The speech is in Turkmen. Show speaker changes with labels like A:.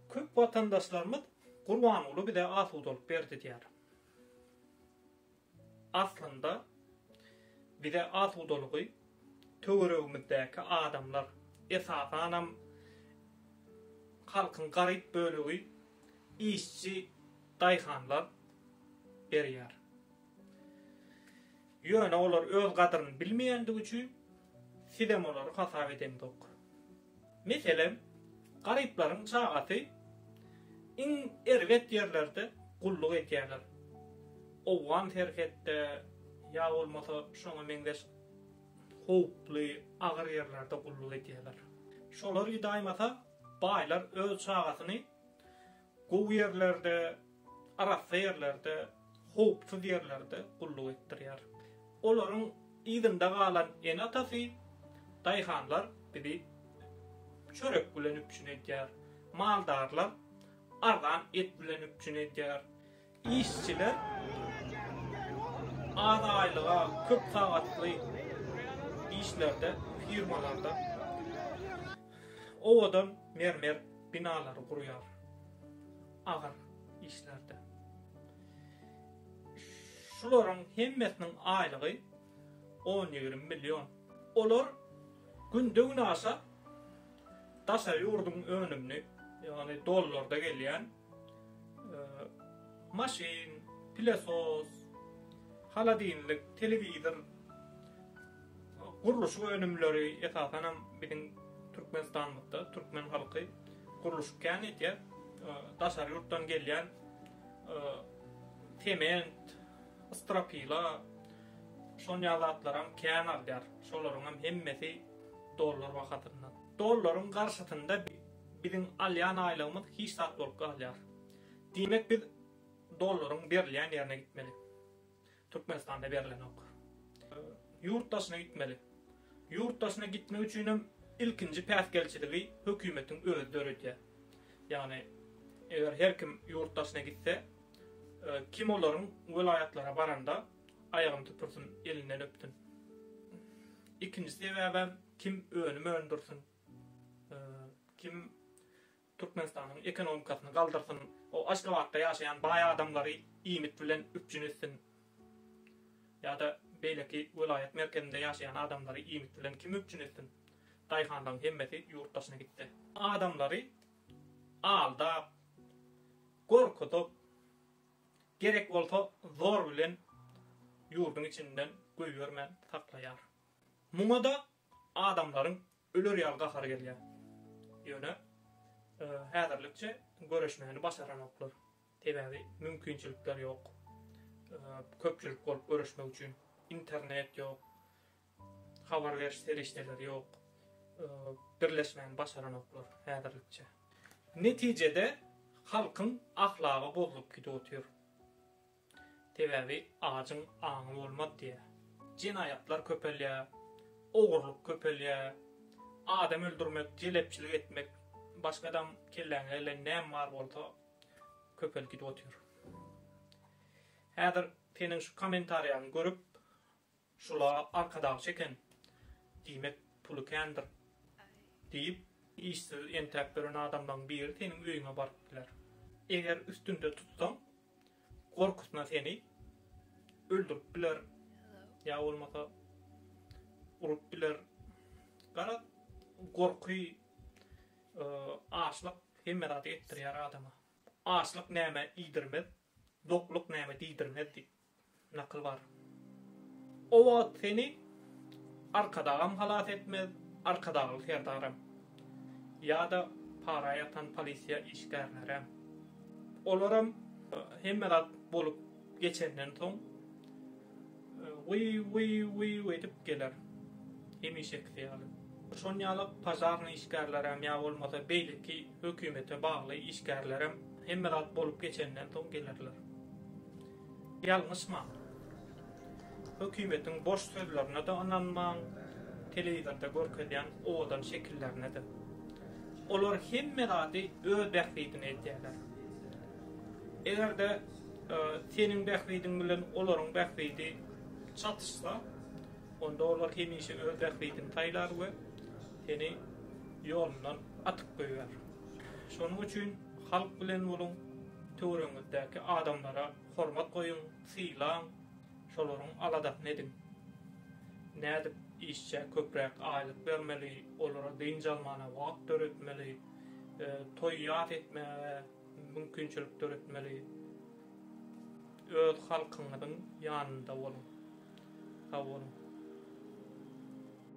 A: Köp watandaşlarymyz Gurbanguly bize asudalyk berdi diýýär. Aslynda bize asudalygy töweregimizdäki adamlar, esasanam halkyň garyp bölegi işçi daýhanlar berýär. Ýöne olar öz gadyryny bilmeýändigi üçin, sizem olary hasap edeňzok. Meselem, garyplaryň çagasy iň erbet ýerlerde gulluk edýärler. Owgan serhetde ýa bolmasa şoňa meňzeş howply, agyr ýerlerde gulluk edýärler. Şolar ydaýmasa, baýlar öz çagasyny Gowy ýerlerde, arassa ýerlerde, howpsuz ýerlerde gulluk etdirýär. Olaryň yzynda galan ene-atasy, daýhanlar bizi çörek bilen üpjün edýär. Maldarlar arzan et bilen üpjün edýär. Işçiler az aýlyga, köp sagatly işlerde, firmalarda owadan mermer binalary gurýar. Agyr işlerde. Şularyň hemmesiniň aýlygy 10-20 million. Olar günde-günaşa daşary ýurduň önümini, ýagny dollarda gelýän maşyn, pilesos, holodilnik, telewizor, gurluşyk önümleri, esasanam biziň Türkmenistanymyzda türkmen halky gurluşyk kän edýär. Daşary ýurtdan gelýän sement, stropila, şon ýaly zatlaram kän alýar. Şolaryňam hemmesi dollar bahasyndan. Dollaryň garşysynda Biziň alýan aýlygymyz hiç zat bolup galýar. Diýmek biz dollaryň berilýän ýerine gitmeli. Türkmenistanda berilenok. Ýurt daşyna gitmeli. Ýurt daşyna gitmek üçinem ilkinji päsgelçiligi hökümetiň özi döredýär. Ýagny eger her kim ýurt daşyna gitse, kim olaryň welaýatlara baranda aýagyny süpürsin, elinden öpsün. Ikinji sebäbem kim önüm öndürsin. Kim Türkmenistanyň ekonomikasyny galdyrsyn, o Aşgabatda ýaşaýan baý adamlary iýmit bilen üpjün etsin ýa-da beýleki welaýat merkezinde ýaşaýan adamlary iýmit bilen kim üpjün etsin? Daýhanlaryň hemmesi ýurt daşyna gitdi. Adamlary aldap, gorkuzyp, gerek bolsa zor bilen ýurduň içinden goýbermän saklaýar. Muňa-da Adamlaryň öler ýaly gahary gelýär. Ýöne häzirlikçe göreşmäni başaranoklar. Sebäbi mümkinçilikler ýok. Köpçülik bolup göreşmek üçin internet ýok. Habar beriş serişdeleri ýok. Birleşmäni başaranoklar häzirlikçe. Netijede halkyň ahlagy bozulyp gidip otyr. Sebäbi ajyň aňy bolmaz diýýär. Jenaýatlar köpelýär, ogurlyk köpelýär, adam öldürmek, jelepçilik etmek, başga adam kelläňe gelen näme bar bolsa köpelip gidip otyr. Häzir seniň şu kommentariýaňy görüp, Şula arkadag çeken, diýmek, puly kändir, diýip, işsiz entäp ýören adamlaryň biri seniň öýüňe baryp biler. Eger üstünde tutsaň, gorkusyna seni öldürip biler, ýa bolmasa urup biler. Garaz, gorky, açlyk hemme zady etdirýär adama. Açlyk nämä iýdirmez, dokluk nämä diýdirmez diýip. Nakyl bar. O wagt seni Arkadagam halas etmez, Arkadagly serdaram. Ýa-da para ýatan polisiýa işgärlerem. Olaram hemme zat bolup geçenden soň wiw-wiw-wiw edip geler. Hemişekisi ýaly. Şon ýaly pažarnyý işgärlerem ýa bolmasa beýleki hökümete bagly işgärlerem hemme zat bolup geçenden soň gelerler. Ýalňyşmaň. Hökümetiň boş sözlerine-de ynanmaň, telewizorda görkezýän owadan şekillerine-de. Olar hemme zady öz bähbidine edýärler. Eger-de seniň bähbidiň bilen olaryň bähbidi çatyşsa, onda olar hemişe öz bähbidini saýlar we seni ýolundan atyp goýber. Şonuň üçin halk bilen boluň. Töweregiňizdäki adamlara hormat goýuň, sylaň, şolaryň aladasyny ediň. Nädip işçä köpräk aýlyk bermeli, olara dynç almana wagt döretmeli, toý-ýas etmäge mümkinçilik döretmeli? Öz halkyňyzyň ýanynda boluň. Sag boluň.